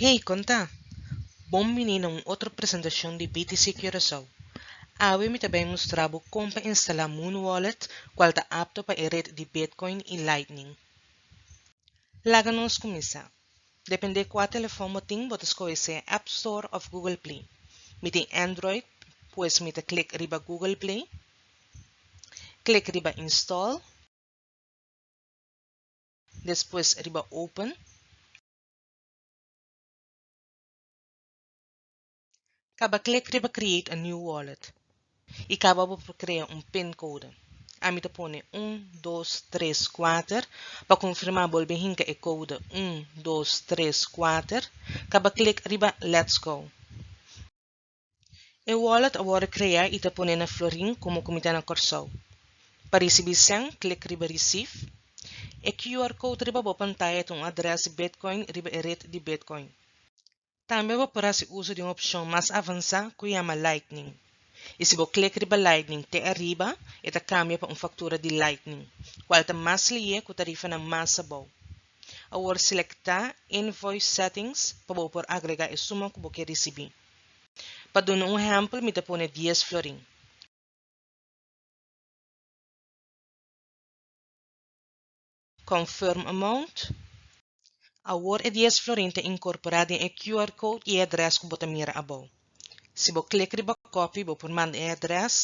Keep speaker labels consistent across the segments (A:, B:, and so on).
A: Hey, kon ta? Bon bini na un otro presentashon di BTC Curaçao. Awe mi ta bai mustra bo kon pa instalá Muun Wallet kual ta apto pa e ret di Bitcoin i Lightning. Laga nos kuminsá. Dependé kua telefon bo tin bo ta skohe sea App Store òf Google Play. Mi tin Android, pues mi ta klik riba Google Play. Klik riba Install. Despues riba Open. Kaba klik riba Create a New Wallet i kaba bo pa krea un pin kode. Ami ta pone un, dos, tres, kuater. Pa konfirmá bolbe hinka e kode un, dos, tres, kuater. Kaba klik riba Let's go. E wallet a worde crea y ta pone na Florin como comita na Corsou. Pa ricibi cen, click riba Receive. E QR code riba bo pantaya ta un adres di Bitcoin riba e red di Bitcoin. Tambe bo por haci uso di un opcion mas avansa cu yama Lightning. Y si bo click riba Lightning te ariba e ta cambia pa un factura di Lightning, cual ta mas liye cu tarifanan mas abou. Awor selektá Invoice Settings pa bo por agregá e suma ku bo ke risibí. Pa duna un ehèmpel mi ta pone dies florin. Confirm Amount, Awor e dies florin ta inkorporá den e QR code i e adrès ku bo ta mira abou. Si bo click riba copy bo por manda e adres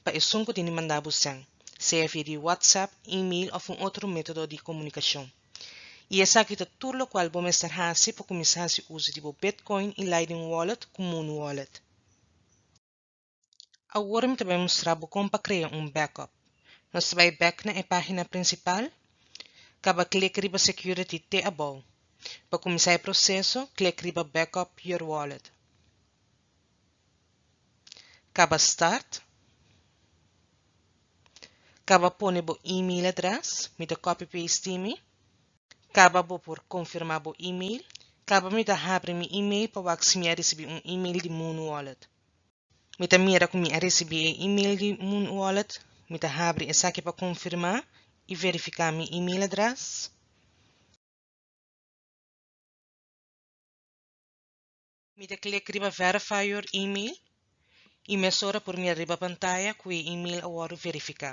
A: pa esun cu tin di manda bo send, sea via di WhatsApp, email of un otro metodo di comunicacion. Y esaki ta tur locual bo mester haci pa cuminsa haci uso di bo Bitcoin y Lightning Wallet cu Muun Wallet. Awor mi ta bay mustra bo con pa crea un backup. Nos ta bay back na e pagina principal. Caba click riba Security te abao. Pa kuminsá e proseso, klik riba Backup your wallet. Kaba Start. Kaba pone bo e-mail adrès, mi ta copy paste mi. Kaba bo por konfirmá bo e-mail. Kaba mi ta habri mi e-mail pa wak si mi a risibí un e-mail di Muun Wallet. Mi ta mira ku mi a risibí e e-mail di Muun Wallet. Mi ta habri esaki pa konfirmá i verifiká mi e-mail adrès. Mi ta klik riba verify your email y mesora por mira riba pantaya cu e email a wordo verifica.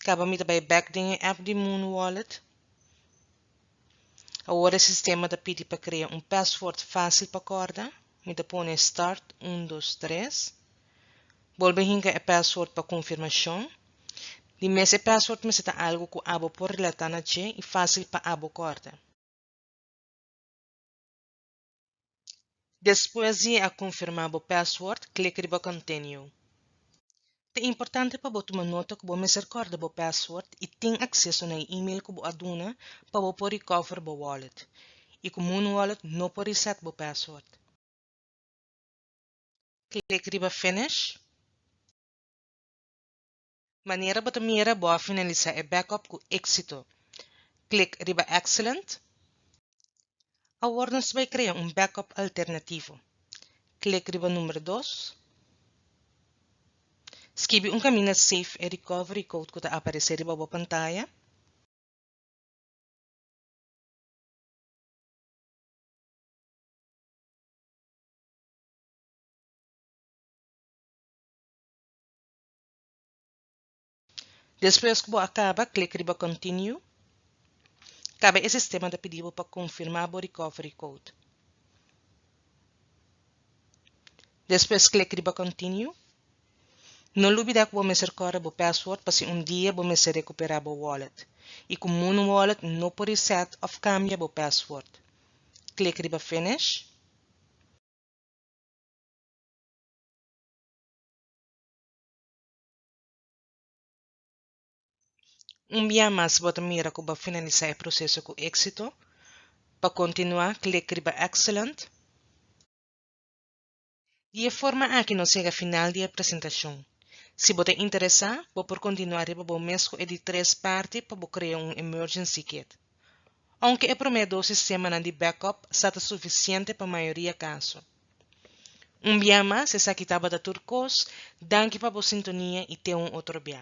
A: Caba mi ta bay back den e app di Moon Wallet. Awor e sistema ta pidi pa krea un pasword fasil pa korda. Mi ta pone start un dos tres. Bolbe hinka e pasword pa konfirmashon. Di mes e pasword mester ta algu ku abo por relata na dje i fasil pa abo korda. Despues di e a confirma bo password, click riba Continue. Ta importante pa bo tuma nota cu bo mester corda bo password y tin acceso na e email cu bo a duna pa bo por recover bo wallet y cu Moonwallet no por reset bo password. Click riba Finish. Manera bo ta mira bo a finalisa e backup cu exito. Click riba Excellent. Awor nos bai crea un backup alternativo. Click riba numero dos. Skibi un caminda Save e recovery code cu ta aparece riba bo pantaya. Despues ku bo a kaba, klik riba Continue. Kaba e sistema ta pidi bo pa konfirmá bo recovery code. Despues klik riba Continue. No lubidá ku bo mester kòrda bo password pa si un dia bo mester rekuperá bo wallet i ku Muun Wallet no por reset òf kambia bo password. Klik riba Finish. Un bia mas bo ta mira ku bo finalisá e proseso ku éksito. Pa kontinuá klik riba Excellent. Di e forma aki nos yega final di e presentashon. Si bo ta interesá, bo por kontinuá riba bo mes ku e di tres parti pa bo krea un Emergency Kit. ounke e promé dos sistemanan di backup sa ta sufisiente pa mayoria kaso. Un bia mas, esaki tabata tur kos, danki pa bo sintonia i te un otro bia.